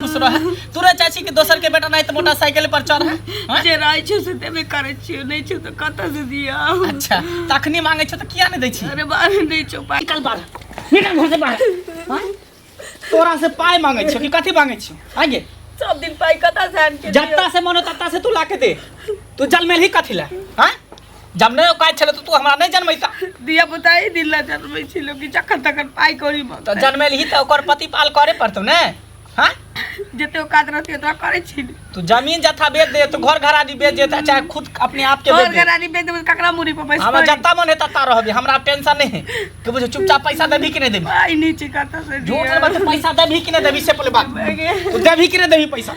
खुश रह तोरा चाची के दोसर के बेटा नहीं तो मोटरसाइकिल पर चढ़ हाँ? जे रहै छै से देबे करै छियै नहि छै तऽ कतऽ से दिअ अच्छा तखनी मांगे छो तो किया नहीं दै छी अरे बारे नहि छौ पाइ निकल बाहर निकल घर से बाहर हाँ? तोरा से पाय मांगे छो कि कथी मांगे छो आगे सब दिन पाइ कतऽ से आनि के दिअ? जत्ता से मनो तत्ता से तू लाके दे तू जलमेल ही कथी ला हाँ जब नहि औकात छलै तऽ तू हमरा नहि जनमैता दिया पुता ही दिल ला जनमै छी लोग जखन तखन पाई कौड़ी में तऽ जनमेलही तऽ ओकर प्रतिपाल करे पड़तौ ने हाँ जते औकात रहती ओतरा करे छी तू जमीन जथा बेच दे तो घर घरानी बेच दे तो चाहे खुद अपने आप के बेच दे घरानी बेच दे ककरा मुरी पर पैसा हमरा जत्ता मन हेता ता रहबे हमरा टेंशन नहीं है कि बुझे चुपचाप पैसा देबी कि नहीं देबी आई नहीं चिकाता से झूठ मत पैसा देबी कि नहीं देबी से पहले बात तू देबी कि नहीं देबी पैसा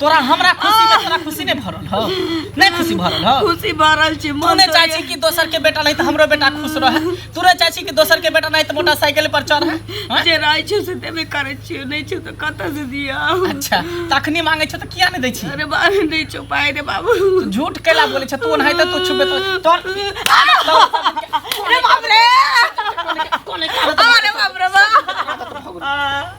तोरा हमरा खुशी में तोरा खुशी नहीं भरल हो नहीं खुशी भरल हो खुशी भरल छी तू मन नहीं चाहे छी कि दोसर के बेटा नहीं तो हमरो बेटा खुश रहे तू नहीं चाहे छी कि दोसर के बेटा नहीं तो मोटरसाइकिल पर चढ़े हैं? जे रहै छै से देबे करै छियो नहि छै तऽ कतऽ से दिया अच्छा तखनी मांगे छो तो किया नहीं दै छी अरे बाबू नहि छौ पाइ रे बाबू तू झूठ कैला बोले छो तू नहीं तो तू छुबे तो तोर अरे बाप रे कोने का अरे बाप रे बाप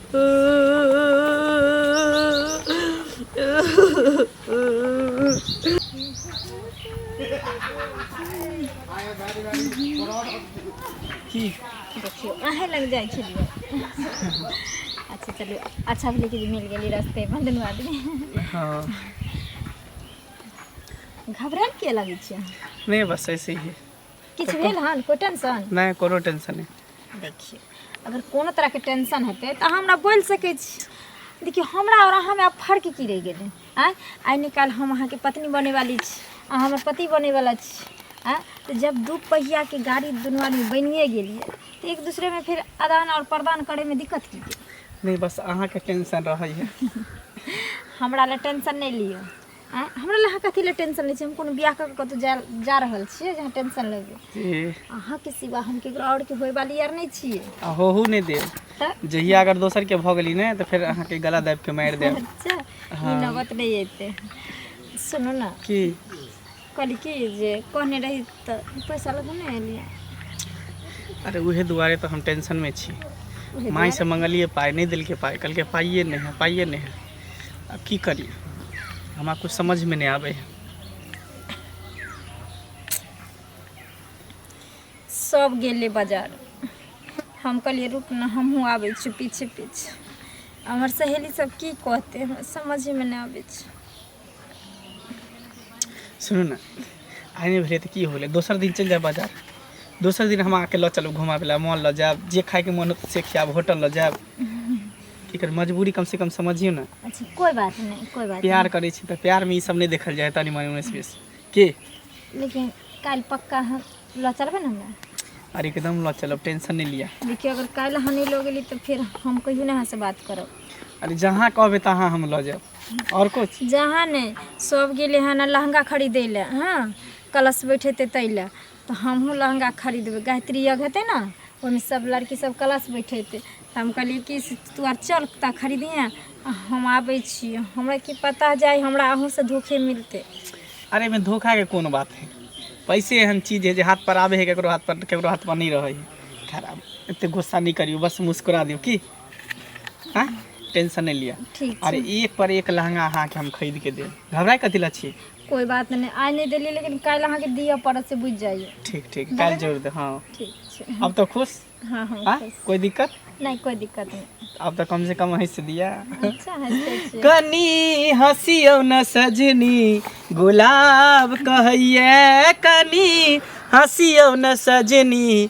की देखियो अहे लग जाइ छलियै अच्छा चलू अच्छा भेलै कि जे मिल गेली रस्ते पर दुनू आदमी हाँ घबराएल किया लगै छियै नहीं बस ऐसे ही किछु भेल हन कोइ टेंशन नहि कोनो टेंशन नहि देखिए अगर कोनो तरहके टेंशन हेतै तऽ अहाँ हमरा बोलि सकै छी देखियौ हमरा आओर अहाँमे आब फर्क की रहि गेलै आँय आइ निकाल्हि हम अहाँके पत्नी बनैवाली छी अहाँ हमर पति बनैवला छी आँय तऽ जब दू पहियाके गाड़ी दुनू आदमी बनिए गेलियै तऽ एक दूसरेमे फेर आदान आओर प्रदान करैमे दिक्कत की गेलै नहि बस अहाँके टेंशन रहैए हमरा लए टेंशन नहि लिअ आँय, हमरा लए अहाँ कथी लए टेंशन लै छी हम कोनो बियाह कऽ के कतौ जा जा रहल छियै जे अहाँ टेंशन लेबै ए, अहाँ के सिवा हम केकरो और के होय वाली यार नहि छियै आ होहू नहि देब तऽ जहिया अगर दोसर के भऽ गेली ने तऽ फेर अहाँके गला दाबि के मारि देब अच्छा ई नौबत नहि एतै सुनू ने की कहली कि जे कहने रही तऽ पैसा लग नहि एलियै अरे उहे दुआरे तऽ हम टेंशन में छी माई से मंगलिए पाई नहीं दिल के पाई कल के पाइए नहीं है पाइए नहीं है अब की करी हमरा कुछ समझ में नहीं आवे सब गेले बाजार हम कहलिए रुक ना हमहूँ आबै छी पीछे पीछे हमर सहेली सब की कहते हमरा समझ में नहीं आबै छै सुनू ने आइ नहि भेलै तऽ की होलै दोसर दिन चलि जायब बाजार दोसर दिन हम अहाँके लऽ चलब घुमाबै लए मॉल लऽ जायब जे खायके मोन होत से खायब होटल लऽ जायब की कर मजबूरी कमसँ कम समझियौ ने अच्छा कोई बात नहीं कोई बात प्यार करै छी तऽ प्यारमे ई सब नहि देखल जाय तनी मनी उन्नैस बीस के नहीं लेकिन कल पक्का हम लऽ चलबै ने हमरा अरे एकदम लऽ चलब टेंशन नहि लिअ देखियो अगर कल अहाँ नहीं लो गेली तो फिर हम कहियो ना अहाँ से बात करब अरे जहाँ कहबै तहाँ हम लऽ जायब और कुछ जहाँ ने सब गेले हन लहंगा खरीदे ले हाँ कलश बैठेते तै ले तो हमहूँ लहंगा खरीदबे गायत्री यज्ञ हेतै ना ओहिमे सब लड़की सब कलश बैठेते तऽ हम कहलिए कि से तू आर चल तऽ खरीदिहे आ हम आबै छी हमरा की पता जाय हमरा अहूँसँ धोखे मिलतै अरे एहिमे धोखा के कोन बात है पैसे एहन चीज है जे हाथ पर आवे है केकरो हाथ पर केकरो हाथ पर नहीं रहे है खराब एते गुस्सा नहीं करियो बस मुस्कुरा दियो की आँय टेंशन नहि लिअ ठीक अरे छै एक पर एक लहंगा अहाँके हम खरीद के देब घबराए कथी लए छी कोई बात नहीं आइ नहीं देलिए लेकिन काल्हि अहाँके दिअ पड़त से बुझि जाइए ठीक ठीक काल्हि जोड़ दे हँ ठीक छै अब तो खुश हाँ हाँ हाँ खुश। कोई दिक्कत नहीं कोई दिक्कत नहीं अब तो कम से कम हंस दिया अच्छा हंसते छियै कनी हंसियौ न सजनी गुलाब कहैये कनी हंसियौ न सजनी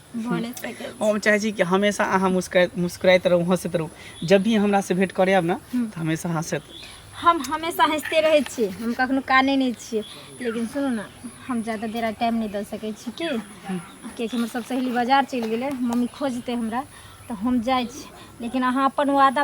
भऽ सकै छै। हम चाहै छी कि हमेशा अहाँ मुस्कुरा मुस्कुराइत रहू हँसैत रहू जब भी हमरासँ भेँट करय आयब ने तऽ हमेशा हँसैत हम हमेशा हँसते रहै छियै हम कखनो कानै नहि छियै लेकिन सुनू ने हम ज्यादा देर आइ टाइम नहि दऽ सकै छी की किएकि हमर सब सहेली बाजार चलि गेलै मम्मी खोजतै हमरा तऽ हम जाइ छी लेकिन अहाँ अपन वादा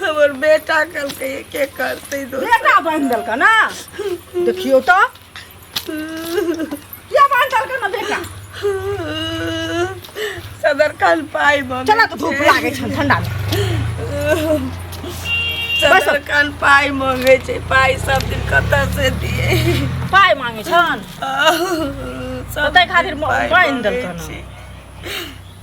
हमर बेटा कहलकै के करतै दोसर बेटा बांध देलक ना देखियो तो किया बांध देलक ना बेटा सदर खान पाई मम्मी चला तो धूप लागे छन ठंडा में सदर खान पाई मांगे छै पाई सब दिन कत से दिए पाई मांगे छन सदर खातिर बांध देलक ना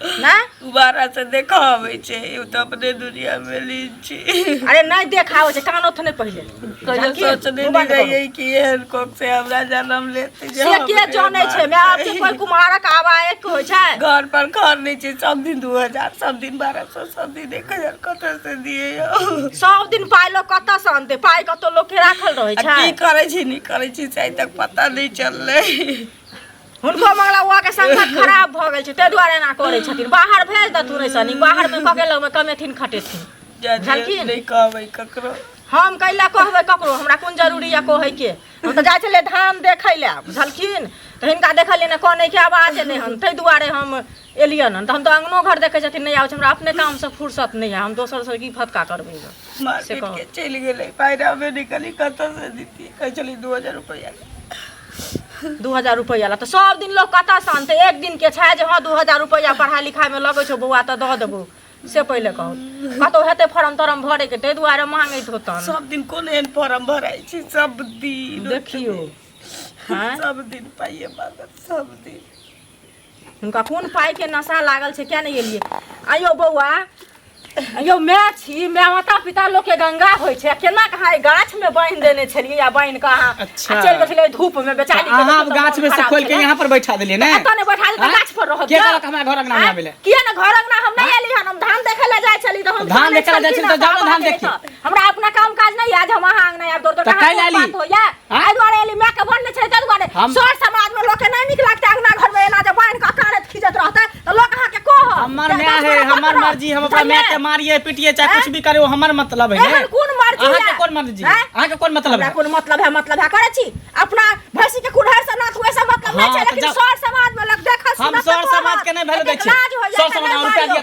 ना दोबारा से देखा आवे छे यू तो अपने दुनिया में लीन छी अरे नहीं देखाओ छै कान ओथने पहिले कहियो जानकी, सोचने तू बात नहीं करो। रही कि एहन कोक से हमरा जन्म लेते जे से हम के एहन जानै छै मैं आब बात कोई कुमारक आवा एक होइ छै घर पर घर नहीं छे सब दिन दू हजार सब दिन बारह सौ सब दिन एक हजार कतऽ से दिए यौ सब दिन पाइ लोग कतऽ से अनतै पाइ कतौ लोग के राखल रहै आ छै की करे छी नहीं करे छी से आइ तक पता नहीं चलले हुनको मंगला हुआ के संगत खराब भ गेल छै ते दुआरे एना करै छथिन बाहर भेज द तू रैसनी बाहर में कके लग में कमेथिन खटेथिन जानकी नहीं कहबै ककरो हम कैला कहबै ककरो हमरा कोन जरूरी या कहै के हम तऽ जाइ छलियै धान देखै लए बुझलखिन तऽ हिनका देखलियै ने कनै के आवाज एलै हन ताहि दुआरे हम एलियन हन तऽ हम तऽ अङ्गनो घर देखै छथिन नहि आबै छै हमरा अपने कामसँ फुर्सत नहि है हम दोसरसँ की फतका करबै गऽ से मार्केट कहू के चलि गेलै पाइ रहबे नहि करी कतऽ से दितियै कहै छलियै दू हजार रुपैआ दू हजार रुपैआ ला तऽ सब दिन लोक कतऽ से अनतै एक दिन के छै जे हँ दू हजार रुपैआ पढ़ाइ लिखाइमे लगै छौ बौआ तऽ दऽ देबौ से पहिले कहू कतौ हेतै फॉर्म तॉर्म भरैके ताहि दुआरे मांगैत होतन सब दिन कोन एहन फॉर्म भराइ छै सब दिन देखियौ हैं सब दिन पाइए मांगत सब दिन हुनका कोन पाइके नशा लागल छै किया नहि एलियै आइयो बौआ यौ माय छी माय माता पिता लोग के गंगा होय छै केना कहा गाछ में बांध देने छलिए या बांध के अहाँ अच्छा। चल गेल धूप में बेचारी के अहाँ गाछ में से खोल के यहां पर बैठा देलिए ना एतने बैठा देलिए गाछ पर रह के कहलक हमरा घर अंगना में आबे ले किया ना घर अंगना हम नहीं आली हम धान देखे ले जाय छली त हम धान देखे ले जाय छली त जाओ धान देखी हमरा अपना काम काज नहीं आज हम अहाँ अंगना आब दौड़ दौड़ कहां बात होया एहि दुआरे एली माय के बन नहि छै ताहि दुआरे हम- सर समाज में लोग के नहीं निक लगते अंगना घर में एना जे बांध के अकानत खींचत रहते तो लोग अहाँ के कह हमर माय है हमर मर्जी हम अपना माय के मारिए पीटिए चाहे कुछ भी करे वो हमर मतलब है ने एहन कोन मर्जी अहाँ के है? कोन मर्जी हैं? अहाँ के कोन मतलब हमरा है कोन मतलब है मतलब है करे छी अपना भैंसी के कुढ़ार से नाथ हुए से मतलब नहीं हाँ, छै तो लेकिन जब- सर समाज में लोग देखत हम सुनत सर तो समाज के नहीं वैल्यू दै कहत, छियै लाज होइया, सर तऽ समाज लाज रुपया होइया। दिया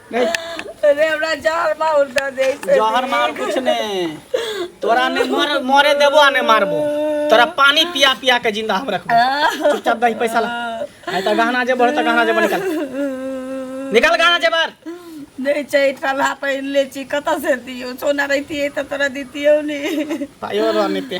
अरे हमरा जहर मार दे दे से जहर मार कुछ ने तोरा ने मर मरे देबो आ ने मारबो तोरा पानी पिया पिया के जिंदा हम रखबो चुपचाप दही पैसा ला आय त गहना जे बढ़ त गहना जे निकाल निकाल गहना जे बार नहीं चाहिए पला पहन ले छी कत से दियो सोना रहती है तो तोरा दीतियो नहीं पायो रहने पे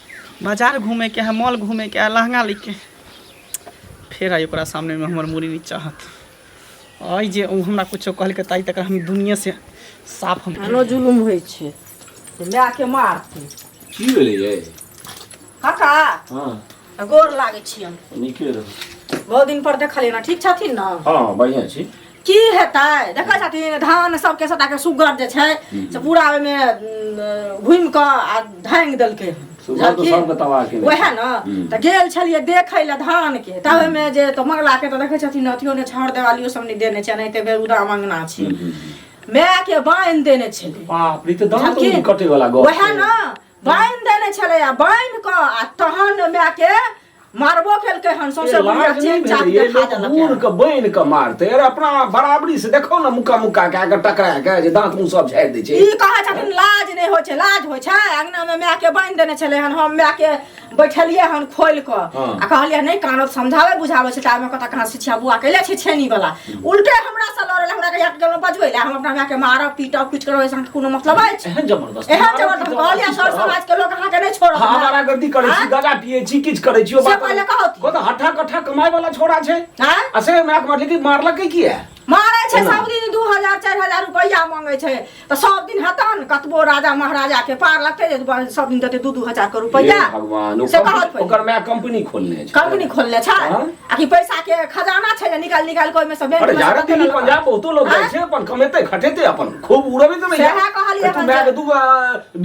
बाजार घूमेके है मॉल घूमेके है लहंगा लेके फेर आई ओकरा सामनेमे हमर मूड़ी नीचा हत अइ जे ओ हमरा कुछो कहलकै ताहि तक हम दुनिया से साफ हम आनो जुलुम होइ छै तऽ लए के मारतै की भेलै ये काका हाँ आ गोर लागै छियनि नीके रहो बहुत दिन पर देखलियै ने ठीक छथिन ने हाँ बढ़िया छी की हेतै देखै छथिन धान सबके सटाके सुगर जे छै से पूरा ओहिमे घुमि कऽ आ धांगि देलकै हन। सुगर तऽ बुझलखिन? सबके तबाह केने वएह ने हम्म। तऽ गेल छलियै देखै लए धान के तब ओहिमे जे तऽ मंगला के तऽ देखै छथिन अथियो ने छहर देवालियो सब नहि देने छै एनाहिते बेरुदा मंगना छै हम्म, हम्म, हम्म। माय के बान्हि देने छलै बाप रे ई तऽ दाँत बुझलखिन? उंगली कटे वाला गप वएह छै। ने बान्हि देने छलै आ बान्हि कऽ आ तहन माय के मारबो केलकै हन सौंसे ए, बुढ़िया लाज नहि चेन चाप भेलै, ये देखा लोक देलकै बूढ़ के बनि के मारते अरे अपना बराबरी से देखो ना मुक्का मुक्का कए के टकरा के जे दांत मुंह सब झाड़ि दै छै ई कहै छथिन लाज नहि होइ छै लाज होइ छै अंगना मे माय के बांधि देने छलै हन हम माय के बैठलियै हन खोलि कऽ हँ। आ कहलियै नहि कानत समझाबै बुझाबै छै तामे कतऽ कहाँ शिक्षा बुआ कैले छै छेनी वाला उल्टे हमरा से लड़ल हमरा के एक गेलो बजबै ले हम अपना माय के मारब पीटब कुछ करब ऐसा कोनो मतलब अछि एहन जबरदस्त एहन जब हम कहलिया सर समाज के लोग अहाँ के नहीं छोड़त हाँ, हमारा गलती करे छी गजा पिए छी किछ करे छी ओ से बात पहिले कहत। को तो हठा कठा कमाए वाला छोरा छै हैं असे हमरा के मतलब कि मारलकै किया मारै छै सब दिन 2000 4000 रुपैया मांगै छै तऽ सब दिन हेता ने कतबो राजा महाराजा के पार लगते जे सब दिन देते दू दू हजार के रुपया भगवान से कहत ओकर माय कंपनी खोलने छै कंपनी खोलने छै हाँ? आ कि पैसा के खजाना छै जे निकाल निकाल कोई में से बैंक अरे जारा दिल्ली पंजाब बहुतो लोग जाय हाँ? छै अपन कमेते खटेते अपन खूब उड़बे त नहीं सएह कहलिए तू माय के दू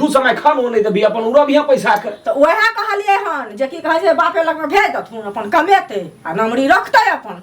दू समय खान होने त भी अपन उड़ब यहां पैसा के त ओहे कहलिए हन जे की कहे छै बापे लग में भेज दथुन अपन कमेते आ नमरी रखते अपन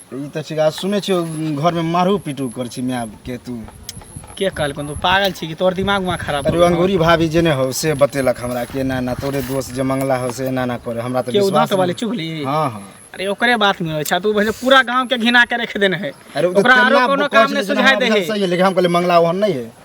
ई तऽ छिका सुनै छियौ घरमे मारू पीटू कर छी माय के तू के कहलकन तू पागल छी कि तोर दिमाग में खराब अरे अंगूरी भाभी जे ने हो से बतेलक हमरा के ना ना तोरे दोस्त जे मंगला हो से ना ना करे हमरा तो विश्वास तो वाले चुगली हां हां अरे ओकरे बात में अच्छा तू भले पूरा गांव के घिना के रख देने है अरे ओकरा आरो कोनो काम ने सुझाय दे है सही है लेकिन हम कहले मंगला ओहन नहीं है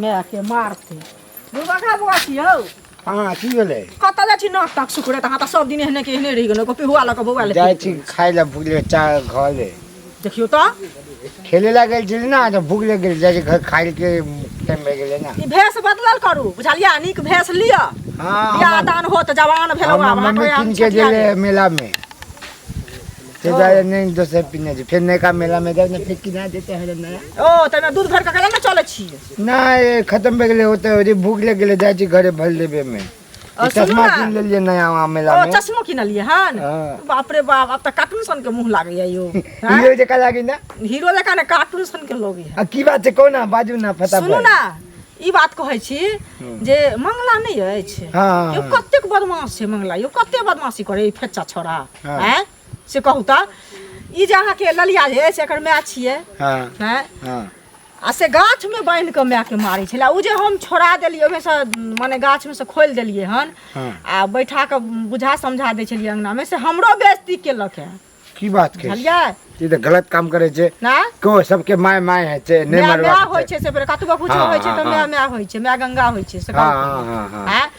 मायके मारतै दुर्गा खा बौआ छी हौ हाँ की भेलै कतऽ जाइ छी नाक ताक सुखड़े तऽ अहाँ तऽ सब दिन एहने के एहने रहि गेलहुँ कॉपी हुआ लऽ कऽ बौआ ले जाइ छी खाय लए भूख लगे चाह घर ले देखियौ तऽ खेले लए गेल छली ने तऽ भूख लगे गेल जाइ छी घर खाय के टाइम भए गेलै ने ई भेष बदलल करू बुझलियै नीक भेष लिअ हाँ बियाह हमर- दान हो तऽ जवान भेलहुँ हमर आब मम्मी अहाँके कीन के छठियारी। गेलै मेला में फिर हाँ। जाए नहीं दस हजार पीने जी फिर नया मेला में जाए फिर कि ना देते हैं नया ओ तने दूध घर का कला ना चले छी ना ये खत्म बे गेले होते हो जी भूख लग गेले जाए छी घरे भर लेबे में और सुनो चश्मा ना। किन ले लिए नया वहाँ मेला ओ में चश्मो किन लिए हन हाँ। बाप रे बाप अब त कार्टून सन के मुंह लागे है यो हाँ? हीरो जका लागी ना हीरो लेका ने कार्टून सन के लोग है आ की बात छै कोना बाजू ना फटाफट सुनू ना ई बात कहै छी जे मंगला नहीं अछि हाँ। यो कतेक बदमाश छै मंगला यो कते बदमाशी करे ई फेचा छोरा हाँ। हैं से कहू तो ई जे अहाँ के ललिया जे से एकर माय छिए हाँ हैं हाँ आ से गाछ में बांध के माय के मारै छला उ जे हम छोड़ा देलिए ओमे से माने गाछ में से खोल देलिए हन हाँ। आ बैठा के बुझा समझा दै छलिए अंगना में से हमरो बेइज्जती केलक है की बात के बुझलिए ई तऽ गलत काम करै छै ना को सबके माय माय है छै नहि माय माय मरबाक होइ छै छै से फेर कतबो कुछ हाँ, होइ छै हाँ, तऽ माय हाँ। माय होइ छै माय गंगा होइ छै से हाँ कहू हाँ हाँ हाँ हैं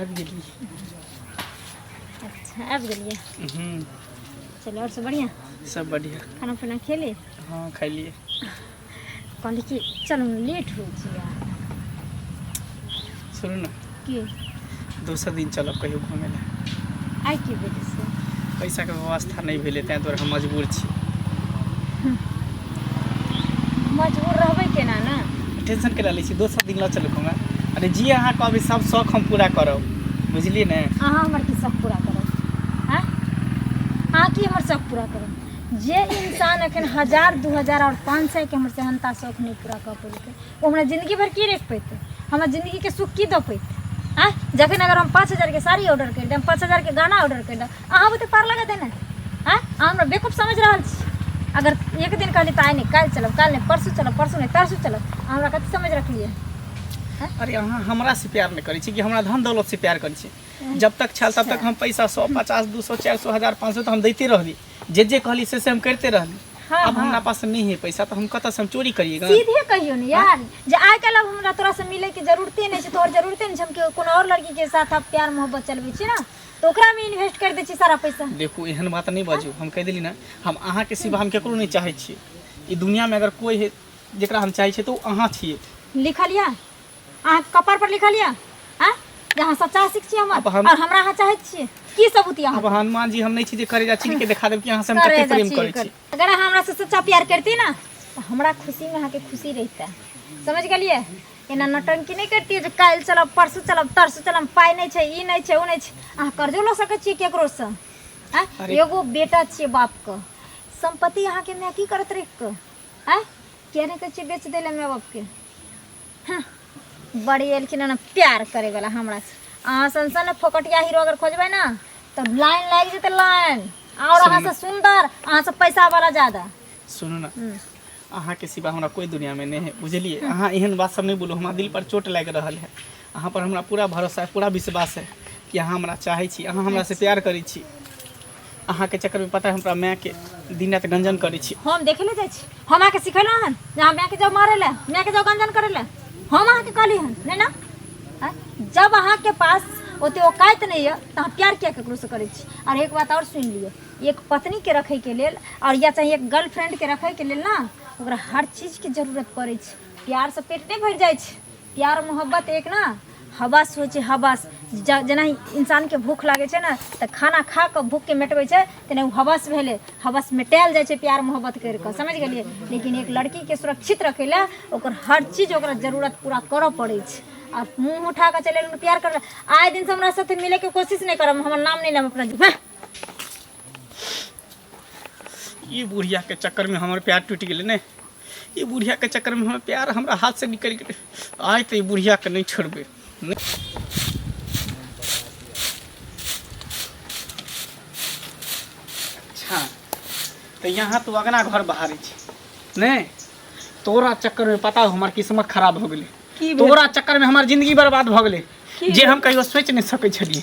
आबि गेलियै अच्छा आबि गेलियै हूँ चलू आओर सब बढ़िआँ सब बढ़िया खाना पीना खेली हाँ खैलिए कहली कि चलू ने लेट हो जिया सुनू ना की दोसर दिन चलब कहियो घूमे ला आइ की भेलै से पैसा के व्यवस्था नहीं भेले तें द्वारे हम मजबूर छी मजबूर रहबै केना ने टेंशन के लै छी दोसर दिन लऽ चलू हमरा अरे जी अहाँ कहबै सब शौक हम पूरा करब बुझलिए ने अहाँ हमर की शौक पूरा करब हैं अहाँ की हमर शौक पूरा करब जे इंसान अखन हजार दू हजार और पाँच सौ के हमर सेहनता शौक नहीं पूरा कऽ पेलकै ओ हमरा जिंदगी भर की रख पैते हमरा जिंदगी के सुख की दऽ पैते आ जखन अगर हम पाँच हजार के साड़ी ऑर्डर कर देम पाँच हजार के गाना ऑर्डर कर देम अहाँ बुते पार लगा देने आ अहाँ हमरा बेकूफ समझ रहल छी अगर एक दिन कहली तऽ आइ नहि काल्हि चलब काल्हि नहि परसू चलब परसू नहि तरसू चलब अहाँ हमरा कथी समझ रखलियै अरे अहाँ हमरा से प्यार नहि करै छी कि हमरा धन दौलत से प्यार करै छी जब तक छल तब तक हम पैसा सौ पचास दू सौ चारि सौ हजार पाँच सौ तऽ हम दैते रहली जे जे कहली से से हम करते रहली हाँ, अब हाँ। हमरा पास नहीं है पैसा तो हम कतऽ से हम चोरी करिएगा सीधे कहियो ने यार जे आइ काल्हि अब हमरा तोरा से मिले के जरूरते नहीं छै तोहर जरूरते नहीं छै हम केओ कोनो और लड़की के साथ अब प्यार मोहब्बत चलबे छी ना तो ओकरा में इन्वेस्ट कर दे छी सारा पैसा देखू एहन बात नहीं बाजू हम कह दिली ना हम अहाँ के सिवा हम केकरो नहीं चाहे छिए ई दुनिया में अगर कोई है जेकरा हम चाहे छिए तो अहाँ छिए लिखल या अहाँ कपार पर लिखल यऽ आ जे अहाँ सच्चा आशिक छी हमर अब हम- और हमरा अहाँ चाहैत छियै की सबूत यऽ अब अहाँ हनुमान जी हम नहीं छी जे करेजा छीन के देखा देब कि अहाँ से हम करे कते जा प्रेम छी, करे करे। छी अगर अहाँ हमरा से सच्चा प्यार करती ना तो हमरा खुशी में अहाँके खुशी रहता समझ गेलियै एना नौटंकी नहीं करती जे काल्हि चलब परसू चलब तरसू चलब पाइ नहीं छै ई नहीं छै ओ नहीं छै अहाँ कर्जो लऽ सकैत छियै केकरो से आँय? अरे। एगो बेटा छियै बाप के संपत्ति अहाँके माय की करत रहि के आँय किया नहीं कहै छियै बेच देले माय बाप के हँ, बड़ी एलखिन हन प्यार करे वाला हमरा से अहाँ सन सन फोकटिया हीरो अगर खोजबै ना तो लाइन लागि जेतै लाइन और अहाँ से सुंदर अहाँ से पैसा वाला ज्यादा सुनू ना हम्म। अहाँ के सिवा हमरा कोई दुनिया में नहीं है बुझलिए अहाँ एहन बात सब नहीं बोलू हमरा दिल पर चोट लागि रहल है अहाँ पर हमरा पूरा भरोसा है पूरा विश्वास है कि अहाँ हमरा चाहै छी अहाँ हमरा से प्यार करै छी अहाँके चक्कर में पता है हमरा माय के दिन रात गंजन करे छी हम देखे ले जाइ छी हम अहाँके सिखेलहुँ हन जे अहाँ मायके जाउ मारै लए मायके जाउ गंजन करै लए हम अहाँके कहली हन नहि ने आँय? जब अहाँके पास ओते औकात नहीं है तो अहाँ प्यार किया ककरो से करै छी और एक बात और सुन लियो एक पत्नी के रखे के लेल और या चाहे एक गर्लफ्रेंड के रखे के लेल ना ओकरा हर चीज के जरूरत पड़ै छै प्यार से पेट नहीं भर जाइ छै प्यार मोहब्बत एक ना हवस होइ छै हवस ज- जेना इंसानके भूख लागै छै ने तऽ खाना खा कऽ भूखके मेटबै छै तेना ओ हवस भेलै हवस मेटायल जाइ छै प्यार मोहब्बत करि कऽ समझ गेलियै लेकिन एक लड़कीके सुरक्षित रखै लए ओकर हर चीज ओकरा जरूरत पूरा करऽ पड़ै छै आ मुँह उठा कऽ चलि एलहुँ प्यार करऽ आइ दिनसँ हमरा साथे मिलैके कोशिश नहि करब हमर नाम नहि लेब अपना जी- हँ। ई बुढ़िया के चक्कर में हमर प्यार टूट गेलै ने ई बुढ़िया के चक्कर में हमर प्यार हमरा हाथ से निकल गेलै आइ तऽ ई बुढ़िया के नहि छोड़बै अच्छा तऽ यहाँ तू अगना घर बहारै छी नहि तोरा चक्कर में पता हो हमर किस्मत खराब हो गेलै की भेल? तोरा चक्कर में हमर जिंदगी बर्बाद भऽ गेलै की जे हम कहियो सोचि नहि सकै छलियै